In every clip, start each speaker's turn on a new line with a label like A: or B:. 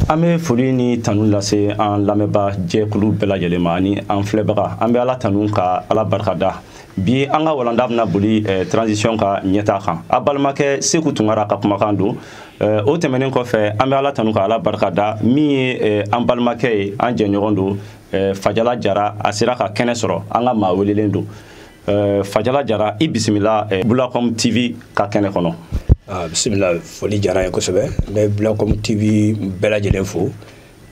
A: an bɛ foli ni tanu lase an lamɛnbaa jɛkulu bɛɛ lajɛlen ma ani an filɛbaga an bɛ ala tanu ka ala barikada bi an ka walanda bɛna boli eh, transition ka ɲɛtaa kan a balimakɛ seku tunkara ka kumakan don eh, o tɛmɛnen kɔfɛ an bɛ ala tanu ka ala barikada min ye eh, an balimakɛ ye an jɛɲɔgɔn don fajala jara a sera ka kɛnɛ sɔrɔ an ka maa welelen don eh, fajala jara i bisimila eh, bulacom tv ka kɛnɛ kɔnɔ ah,
B: bisimila foli diyara n ye kosɛbɛ n bɛ bulacom tv bɛɛ lajɛlen fo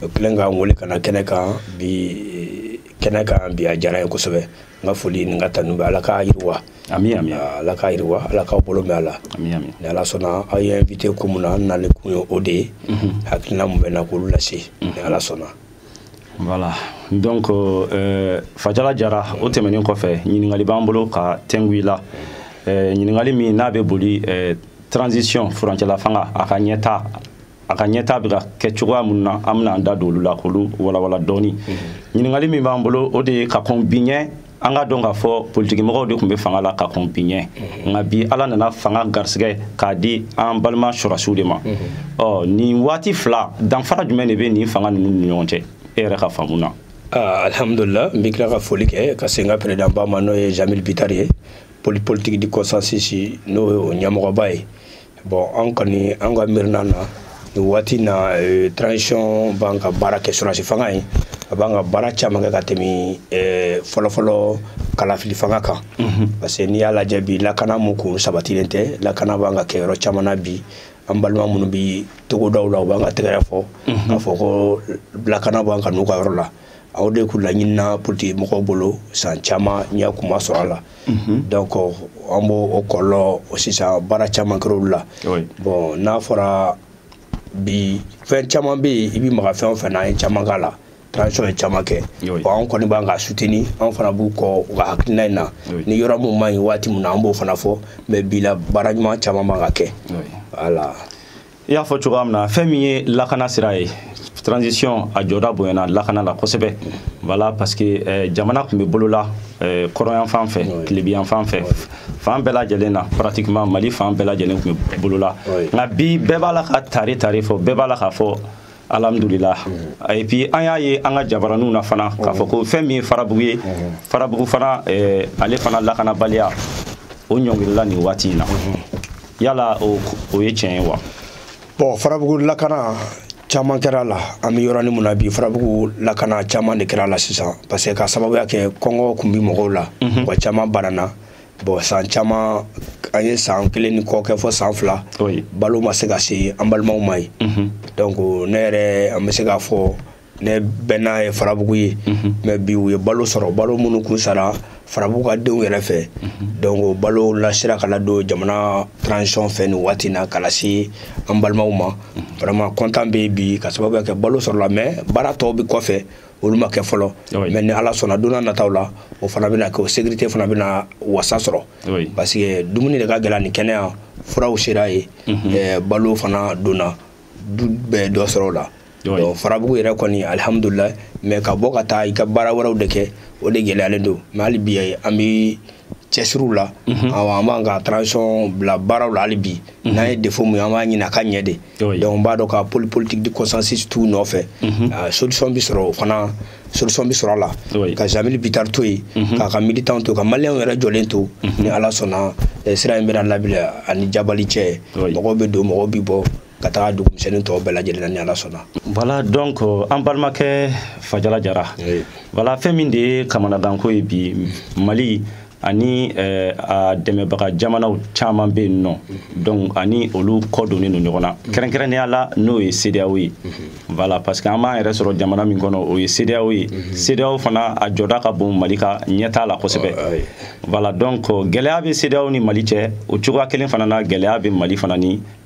B: u kɛlen ka n wele ka na kɛnɛ kan bi eh, kɛnɛ kan bi a diyara n ye kosɛbɛ n ka foli ni n ka tanu bɛ ala k'a yiriwa ami ami ah,
A: ala k'a yiriwa
B: ala k'aw bolo mɛn a la ami ami ni ala sɔnna
A: aw ye
B: n invité ko mun na n nalen kun ye o de ye mhm. hakilina mun bɛ n na k'olu lase mhm. ni ala sɔnna
A: voilà donc euh, fajala jara o tɛmɛnen kɔfɛ ɲininkali b'an bolo ka tɛngu i la euh, ɲininkali min n'a bɛ boli euh, transition furancɛla fanga a ka ɲɛtaa a ka ɲɛtaa bɛ ka kɛ cogoya minnu na an bɛna an da don olu la k'olu walawala dɔɔni mhm. ɲininkali min b'an bolo o de ye ka kɔn bi ɲɛ an k'a dɔn k'a fɔ politikimɔgɔw de tun bɛ fanga la ka kɔn bi ɲɛ nka bi ala nana fanga garisɛgɛ k'a di an balima sɔrɔsiw de ma ɔ nin waati fila danfara jumɛn de bɛ nin fanga ninnu ni ɲɔgɔn cɛ e yɛrɛ ka faamu na ah,
B: alhamdulillah n bɛ tila ka foli kɛ ka se n ka président ba ma n'o ye jamil bitari ye politique du consensus n'o ye o ɲɛmɔgɔba ye bon an kɔni an ka miirinan na nin waati na eh, transition b'an ka baara kɛ sɔrɔsi fanga ye a b'an ka baara caman kɛ ka tɛmɛ eh, fɔlɔfɔlɔ kalafili fanga kan parce que n'i y'a lajɛ bi lakana mun kun sabatilen tɛ lakana b'an ka kɛ yɔrɔ caman na bi an balima minnu bi togodaw la u b'an ka tɛgɛrɛ fɔ k'a fɔ ko lakana b'an ka n'u ka yɔrɔ la o de kun laɲinina politiki mɔgɔw bolo san caman ɲɛ kun ma sɔrɔ a la mhm. donc an b'o o kɔlɔlɔ sisan baara caman kɛra olu la bon n'a fɔra bi fɛn caman bɛ yen i bɛ maga fɛn o fɛn na an ye caman k'a la transition ye caman kɛ bon an kɔni b'an ka soutenir an fana b'u kɔ u ka hakilina in na ni yɔrɔ min man ɲi waati min na an b'o fana fɔ mais bi la baara ɲuman caman b'an ka kɛ voilà i
A: y'a fɔ cogoya min na fɛn min ye lakana sira ye transition a jɔda bonyana lakana la kosɛbɛ voilà parce que eh, jamana tun bɛ bolola eh, kɔrɔnyanfan fɛ tilebinyanfan fɛ fan bɛɛ lajɛlen na pratiquement mali fan bɛɛ lajɛlen tun bɛ bolola nka bi bɛɛ b'a la ka tare tare fɔ bɛɛ b'a la k'a fɔ alhamdulila mm-hmm. et puis an y'a ye an ka jabaraninw na fana k'a fɔ ko fɛn min ye farabugu ye farabugu fana eh, ale fana lakanabaliya o ɲɔngirila nin waati in na yala o ye tiɲɛ ye wa bon
B: farabugu lakana caman kɛra a la an bɛ yɔrɔnin mun na bi farabugu lakana caman de kɛra a la sisan parce que k'a sababuya kɛ kɔngɔ kun bi mɔgɔw la mɔgɔ caman banana bon san caman an ye san kelen ni kɔ kɛ fo san fila balo ma se ka se an balimaw ma yen mhm. donc ne yɛrɛ an bɛ se k'a fɔ ne bɛnna ye farabugu ye mhm. mais bi u ye balo sɔrɔ balo minnu kun sara farabugu ka denw yɛrɛ fɛ mhm. donc balo lasira ka ladon jamana transition fɛ nin waati na ka lase an balimaw ma vraiment content bɛ bi k'a sababuya kɛ balo sɔrɔla mais baara tɔw bɛ kɔfɛ olu ma kɛ fɔlɔ mais ni ala sɔnna don nataw la o fana bɛna kɛ o sécurité fana bɛna wasa sɔrɔ parce que dumuni de ka gɛlɛn ni kɛnɛya furaw sera ye mhm. balo fana donna du bɛɛ dɔ sɔrɔ o la farabugu yɛrɛ kɔni alihamudulilahi mais ka bɔ ka taa i ka baara wɛrɛw de kɛ o de gɛlɛyalen don mais hali bi an bɛ cɛsiriw la mhm. awɔ an b'an ka transition bila baaraw la hali bi mhm. n'an ye défaut mun ye an b'a ɲini a ka ɲɛ de donc n b'a dɔn ka poli politique de consensus t'u nɔfɛ mhm. ah, solution bi sɔrɔ o fana solution bi sɔrɔ a la ka jamili bitar to yen k'a ka militant to ka maliyɛnw yɛrɛ jɔlen to ni ala sɔnna eh, sira in bɛna labila ani jabali cɛ mɔgɔw bɛ don mɔgɔw bi bɔ ka taga dugumisɛnnin tɔw bɛɛ lajɛlen na ni ala sɔnna voilà donc
A: euh, an balimakɛ fajala jara voilà fɛn min de ye kamanaganko ye bi mali ani euh, a dɛmɛbaga jamanaw caman bɛ yen nɔ donc ani olu kɔ donnen don ɲɔgɔn na kɛrɛnkɛrɛnnenya la n'o ye CEDEAO ye voilà parce que an b'an yɛrɛ sɔrɔ jamana min kɔnɔ o ye CEDEAO ye CEDEAO fana a jɔda ka bon Mali ka ɲɛtaa la kosɛbɛ voilà donc euh, gɛlɛya bɛ CEDEAO ni Mali cɛ o cogoya kelen fana na gɛlɛya bɛ Mali fana ni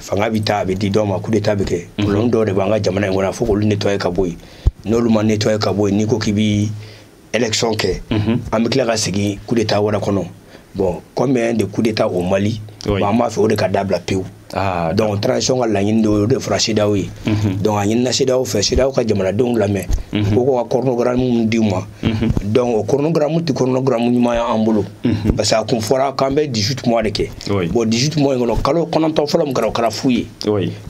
B: fanga bɛ taa a bɛ di dɔ ma coup d'état bɛ kɛ mhm. problème dɔw de b'an ka jamana in kɔnɔ fo k'olu nettoyer ka bɔ yen n'olu ma nettoyer ka bɔ yen n'i ko k'i bɛ élection kɛ mhm. an bɛ tila ka segin coup d'état wɛrɛ kɔnɔ bon combien de coups d'état au Mali bon an b'a fɛ o de ka dabila pewu ah, donc transition ka laɲini de o de fɔra CEDEAO ye mhm. donc a ɲinina CEDEAO fɛ CEDEAO ka jamanadenw lamɛn ko ko ka chronogramme di u ma Mhm. donc o chronogramme tɛ chronogramme ɲuman y'an bolo mhm. parce que a kun fɔra k'an bɛ 18 mois de kɛ bon 18 mois in kɔnɔ kalo kɔnɔntɔn fɔlɔ min kɛra o kɛra fu ye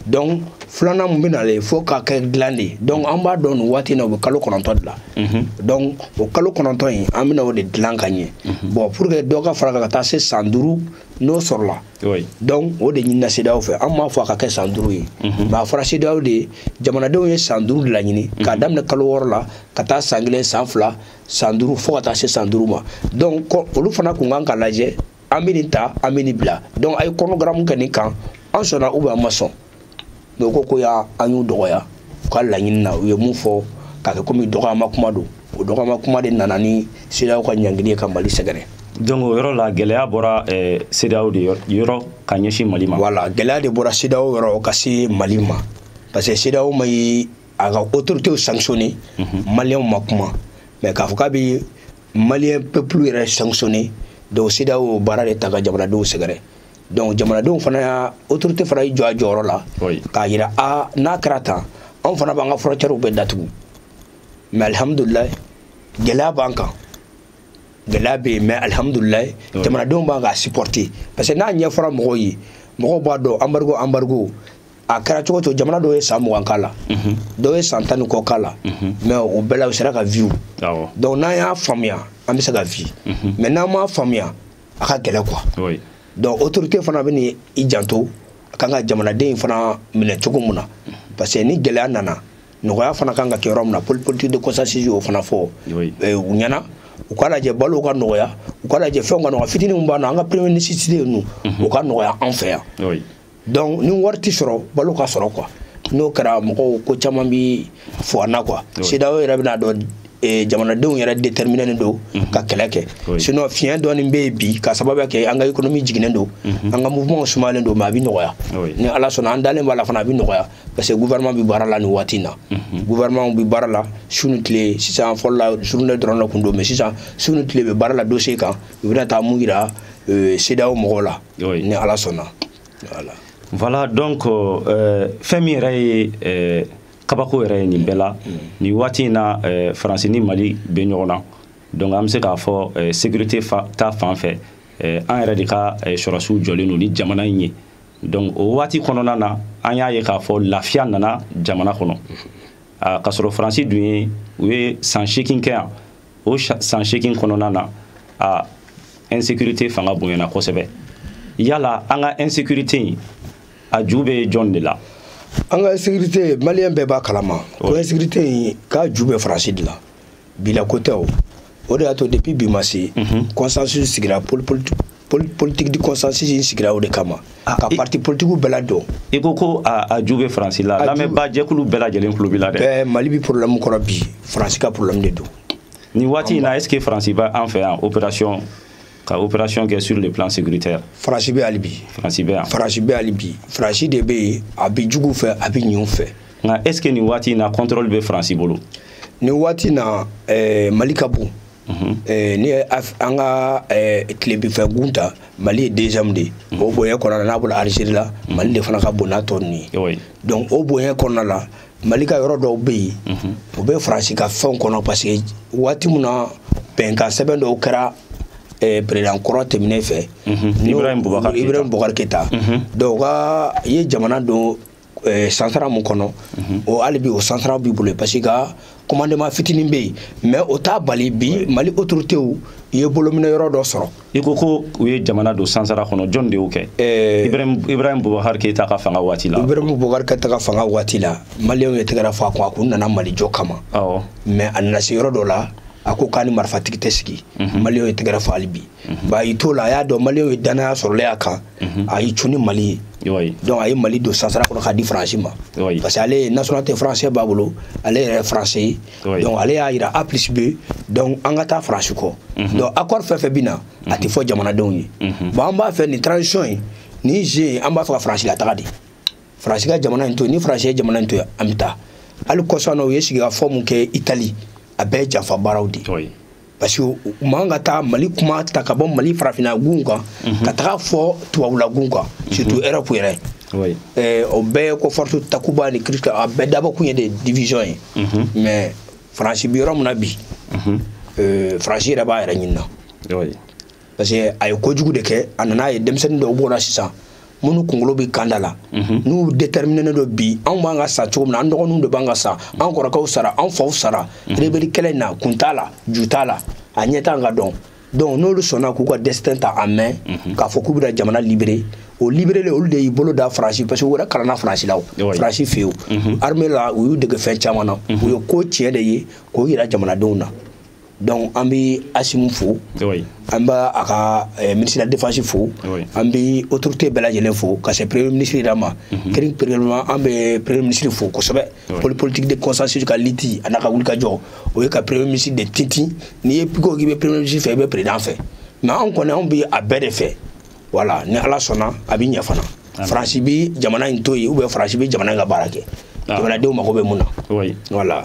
B: donc filanan mun bɛ nalen fo k'a kɛ dilan de ye donc an b'a dɔn nin waati in na u bɛ kalo kɔnɔntɔn de la mhm. donc o kalo kɔnɔntɔn in an bɛna o de dilan ka ɲɛ bon pour que dɔ ka fara kan ka taa se san duuru n'o sɔrɔla Oui. donc o de ɲinina CEDEAO fɛ an m'a fɔ a ka kɛ san duuru ye mm -hmm. mais a fɔra CEDEAO de ye jamanadenw ye san duuru de laɲini mm -hmm. k'a daminɛ kalo wɔɔrɔ la ka taa san kelen san fila san duuru fo ka taa se san duuru ma donc olu fana kun kan ka lajɛ an bɛ nin ta an bɛ nin bila donc a ye chronogramme kɛ nin kan an sɔnna ou bien an ma sɔn mais u ko ko y'a an y'u dɔgɔya u ka laɲini na u ye mun fɔ k'a kɛ komi dɔgɔyama kuma don o dɔgɔyama kuma de nana ni CEDEAO ka ɲangili ye ka mali sɛgɛrɛ donc o yɔrɔ la
A: gɛlɛya bɔra eh, CEDEAO de yɔrɔ ka ɲɛsin mali ma voilà gɛlɛya de bɔra
B: CEDEAO yɔrɔ ka se mali ma parce que CEDEAO ma ye a ka autoritéw sanctionné mhm. maliyɛnw ma kuma mais k'a fɔ k'a bɛ maliyɛn peuple yɛrɛ sanctionné donc CEDEAO y'o baara de ta ka jamanadenw sɛgɛrɛ donc jamanadenw fana y'a autorité fana y'i jɔ a jɔyɔrɔ la k'a yira a n'a kɛra tan anw fana b'an ka frontièrew bɛɛ datugu mais alihamudulilayi gɛlɛya b'an kan gɛlɛya bɛ yen mais alihamudulilayi jamanadenw b'an k'a supporter parce que n'a ɲɛfɔra mɔgɔw ye mɔgɔw b'a dɔn embargo embargo a kɛra cogo cogo jamana dɔw ye san mugan k'a la mhm. dɔw ye san tan ni kɔ k'a la mhm. mais o bɛɛ la u sera ka vivre donc n'an y'a faamuya an bɛ se ka vivre mais mhm. n'an m'a faamuya a ka gɛlɛ quoi donc autorité fana bɛn'i janto a kan ka jamanaden in fana minɛ cogo min na parce que ni gɛlɛya nana nɔgɔya fana kan ka kɛ yɔrɔ min na politique de consensus y'o fana fɔ eh, u ɲɛ na u k'a lajɛ balo ka nɔgɔya u k'a lajɛ fɛnw ka nɔgɔya fitini min b'a na an ka première nécessité ye ninnu u ka nɔgɔya an fɛ yan donc ni wari tɛ sɔrɔ balo ka sɔrɔ quoi n'o kɛra mɔgɔw ko caman bi fɔ an na quoi CEDEAO yɛrɛ bɛn'a dɔn eh, jamanadenw yɛrɛ déterminénen don mhm. ka kɛlɛ kɛ sinon fiɲɛ dɔɔni bɛ yen bi ka sababuya kɛ an ka économie jiginnen don mhm. an ka mouvement sumalen don mais a bɛ nɔgɔya ni ala sɔnna an dalen b'a la fana a bɛ nɔgɔya parce que gouvernement bɛ baara la nin waati in na mhm. gouvernement bɛ baara la su ni tile sisan fɔlɔ la journée dɔrɔn de kun don mais sisan su ni tile bɛ baara la dossier kan u bɛna taa min jira eh, CEDEAO mɔgɔw la oui. ni ala sɔnna voilà
A: voilà donc euh, fɛn min yɛrɛ ye euh, kabako yɛrɛ ye nin bɛɛ la mm. nin waati in na euh, faransi ni mali bɛ ɲɔgɔn na donc an bɛ se k'a fɔ euh, sécurité fa, ta fan fɛ euh, an yɛrɛ de ka euh, sɔrɔsiw jɔlen don ni jamana in ye donc o waati kɔnɔna na an y'a ye k'a fɔ lafiya nana jamana kɔnɔ mm-hmm. ah, k'a sɔrɔ faransi dun ye u ye san seegin kɛ yan o san seegin kɔnɔna na a insécurité fanga bonyana kosɛbɛ yala an ka insécurité in a ju bɛ jɔn de la an ka insécurité
B: maliyɛn bɛɛ b'a kalama ko insécurité in k'a ju bɛ faransi de la bila ko tɛ o o de y'a to depuis bi ma se mhm. consensus sigira politique politique de consensus in sigira o de kama ah, ka parti politiquew bɛɛ ladon i ko ko
A: a ju bɛ faransi la lamɛnbaa jɛkulu bɛɛ lajɛlen tulo b'i la dɛ bɛɛ mali bi problème
B: kɔrɔ bi faransi ka problème de don nin waati in na
A: est ce que faransi bɛ an fɛ yan opération ka opération kɛ sur le plan sécuritaire faransi bɛ hali
B: bi faransi bɛ yan faransi
A: bɛ hali
B: bi faransi de bɛ yen a bɛ juguw fɛ a bɛ ɲinw fɛ nka est ce que nin waati
A: in na contrôle bɛ faransi bolo nin waati in
B: na eh, mali ka bon Mhm. Eh, ni an ka eh, tilebinfɛ gun ta mali ye deuxième de ye mhm. o bonya kɔnɔna n'a bɔla algérie la mhm. mali de fana ka bon n'a tɔ ninnu ye donc o bonya kɔnɔna la mali ka yɔrɔ dɔw bɛ yen o bɛ faransi ka fɛnw kɔnɔ parce que waati min na bɛnkan sɛbɛn dɔw kɛra eh, président kɔrɔ tɛmɛnen fɛ
A: ibrahim bubakar
B: keta donc u ka ye jamana don eh, sansara mun kɔnɔ mhm. o hali bi o sansara b'i bolo parce que ka commandement fitinin bɛ yen mais o t'a bali bi mali autoritéw ye bolominɛ yɔrɔ dɔ sɔrɔ i ko ko u ye
A: jamana don sansara kɔnɔ jɔn de y'o kɛ eh, ibrahim bubakar keyita ka fanga waati la ibrahim bubakar keyita ka
B: fanga waati la maliyɛnw ye tɛgɛrɛ fɔ a kun a kun nana mali jɔ kama mais a nana se yɔrɔ dɔ la a ko k'a ni marifatigi tɛ sigi mhm. maliyɛnw ye tɛgɛrɛ fɔ hali bi mhm. ba a y'i t'o la a y'a dɔn maliyɛnw ye dannaya sɔrɔlen a kan mhm. a y'i cun ni mali ye donc a ye mali don sansara kɔnɔ k'a di faransi ma parce que ale nationalité français b'a bolo ale yɛrɛ français ye donc ale y'a yira a plus b donc an ka taa faransi kɔ mhm. donc accord fɛn fɛn bɛ na a tɛ fɔ jamanadenw ye bon an b'a fɛ nin transition ye nin jeu ye an b'a fɛ ka faransi lataga de faransi ka jamana in to yen ni faransi ye jamana in to yen an bɛ taa hali kɔsa in na u ye sigikafɔ mun kɛ itali a bɛɛ ye janfa baaraw de ye parce que u man ka taa mali kuma ta ka bɔ mali farafina gun kan mhm. ka taga fɔ tubabula gun kan mhm. surtout europe yɛrɛ eh, o bɛɛ ko force takuba ni kirista a bɛɛ dabɔ kun ye de division ye mhm. mais faransi bi yɔrɔ min na bi eh, faransi yɛrɛ b'a yɛrɛ ɲinina parce que a ye kojugu de kɛ a nana a ye denmisɛnnin dɔw b'o la sisan minnu kunkolo bɛ kanda la mhm. n'u déterminen don bi anw b'an ka sa cogo min na an dɔgɔninw de b'an ka sa an kɔrɔkɛw sara an faw sara mhm. rebeli kɛlɛ in na kun t'a la ju t'a la a ɲɛ t'an ka dɔn donc n'olu sɔnna k'u ka destin ta en main mhm. k'a fɔ k'u bɛna jamana libérer o liberele olu de y'i bolo da faransi parce que u yɛrɛ kalanna faransi la o faransi fɛ yen armée la u y'u dege fɛn caman na u ye ko tiɲɛ de ye k'o yira jamanadenw na donc an bɛ asimi fo an b'a a ka eh, ministre de la défense fo an bɛ autorité bɛɛ lajɛlen fo ka se premier ministre yɛrɛ ma mhm. particulièrement an bɛ premier ministre fo kosɛbɛ poli politique de consensus ka lutte a n'a ka wulikajɔ o ye ka premier ministre de tintin n'i ye piko k'i bɛ premier ministre fɛ i bɛ président fɛ mais anw kɔni anw bɛ a bɛɛ de fɛ voilà ni ala sɔnna a bɛ ɲɛ fana faransi bɛ jamana in to yen ou bien faransi bɛ jamana in ka baara kɛ ah. jamanadenw mago bɛ mun na voilà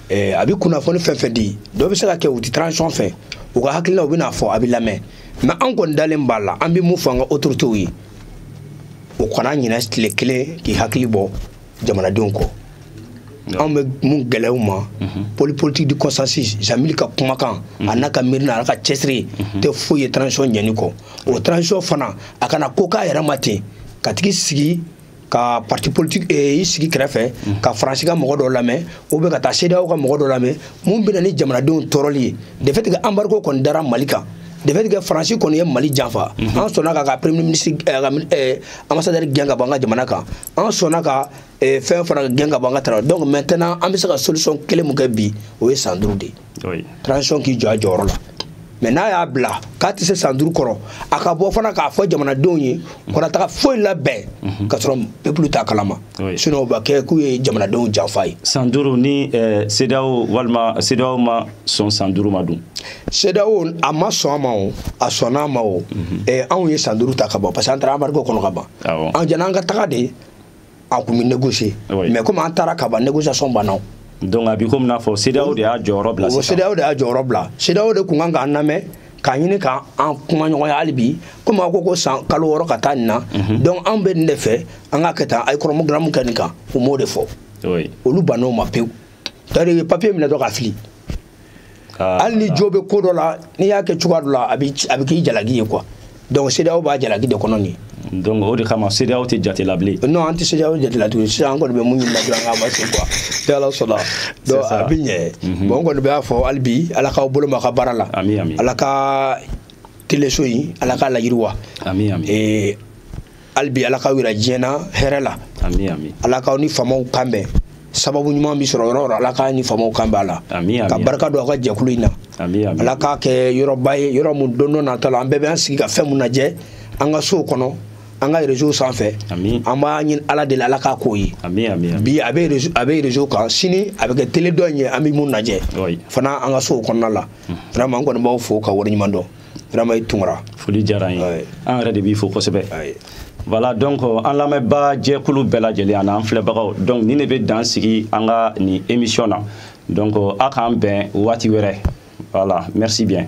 B: eh, a bɛ kunnafoni fɛn fɛn di dɔ bɛ se ka kɛ u tɛ transition fɛ u ka hakilinaw bɛna fɔ a bɛ lamɛn mais an kɔni dalen b'a la an bɛ mun fɔ an ka autorités ye o kana ɲinɛ tile kelen k'i hakili bɔ jamanadenw kɔ anw bɛ mun gɛlɛya u ma mhm. poli politique de consensus jamil ka kumakan mhm. a n'a ka miirina a ka cɛsiri mhm. tɛ foyi ye transition ɲɛni kɔ o transition fana a kana ko k'a yɛrɛ ma ten ka tigi sigi ka parti politique eh, i sigi kɛrɛfɛ ka faransi ka mɔgɔ dɔ lamɛn ou bien ka taa CEDEAO ka mɔgɔ dɔ lamɛn mun bɛ na ni jamanadenw tɔɔrɔli ye de fait que embargo kɔni dara mali kan de fait que faransi kɔni ye mali janfa mhm. an sɔnna ka ka premier ministre eh, ka eh, ambassadeur gɛn ka bɔ an ka jamana kan an sɔnna ka fɛn fana gɛn ka bɔ an ka tara donc maintenant an bɛ se ka solution kelen mun kɛ bi o ye san duuru de ye transition k'i jɔ a jɔyɔrɔ la mais n'a y'a bila k'a tɛ se san duuru kɔrɔ a ka bɔ fana k'a fɔ jamanadenw ye kana taga foyi labɛn mhm. ka sɔrɔ peuple t'a kalama sinon o b'a kɛ k'u ye jamanadenw janfa ye san duuru ni
A: eh, CEDEAO walima CEDEAO ma sɔn san duuru ma dun CEDEAO
B: a ma sɔn a ma o a sɔnna a ma o mhm. eh, anw ye san duuru ta ka ban parce que an taara embargo kɔnɔ ka ban an janni an ka taga de an kun bɛ négocier mais komi an taara ka ban négociation banna donc a bi komi
A: n'a fɔ CEDEAO de y'a jɔyɔrɔ bila sisan CEDEAO de y'a jɔyɔrɔ bila
B: CEDEAO de kun kan k'an lamɛn k'a ɲini k'an kuma ɲɔgɔnya hali bi komi a ko ko san kalo wɔɔrɔ ka taa nin na mhm. donc anw bɛ nin de fɛ an k'a kɛ tan a ye chronogramme kɛ nin kan u m'o de fɔ olu bann'o ma pewu c'est-à-dire papier minɛ dɔ k'a fili hali ni jo bɛ ko dɔ la n'i y'a kɛ cogoya dɔ la a bɛ k'i jalaki ye quoi donc CEDEAO b'a jalaki de kɔnɔ nin ye donc o de kama
A: CEDEAO tɛ jate la bilen non an tɛ CEDEAO jate la
B: tuguni sisan an kɔni bɛ mun ɲini na dɔrɔn an ka avancer quoi ni Ala sɔnna donc a bɛ ɲɛ bon n kɔni b'a fɔ hali bi Ala k'aw bolo ma ka baara la Ala ka teleso in Ala k'a layiriwa amin amin hali bi ala k'aw yira diɲɛ na hɛrɛ la ala k'aw ni faamaw kan bɛn sababu ɲuman bɛ sɔrɔ yɔrɔ o yɔrɔ ala k'a ni faamaw kan bɛn ala ka barika don aw ka jɛkulu in na ala k'a kɛ yɔrɔba ye yɔrɔ min don dɔ natɔ la an bɛɛ bɛ an sigi ka fɛn mun lajɛ an ka sow kɔnɔ an ka réseau sanfɛ an b'a ɲini ala de la ala k'a k'o ye bi a bɛ a bɛ réseau kan sini a bɛ kɛ tele dɔ in ye an bɛ mun lajɛ fana an ka sow kɔnɔna la vraiment an kɔni b'aw fo k'aw waleɲuman dɔn vraiment i Tunkara foli diyara an
A: ye an yɛrɛ de b'i fo kosɛbɛ voilà donc an lamɛnbaa jɛkulu bɛɛ lajɛlen ani an filɛbagaw donc nin de bɛ dan sigi an ka nin émission na donc a k'an bɛn waati wɛrɛ voilà merci bien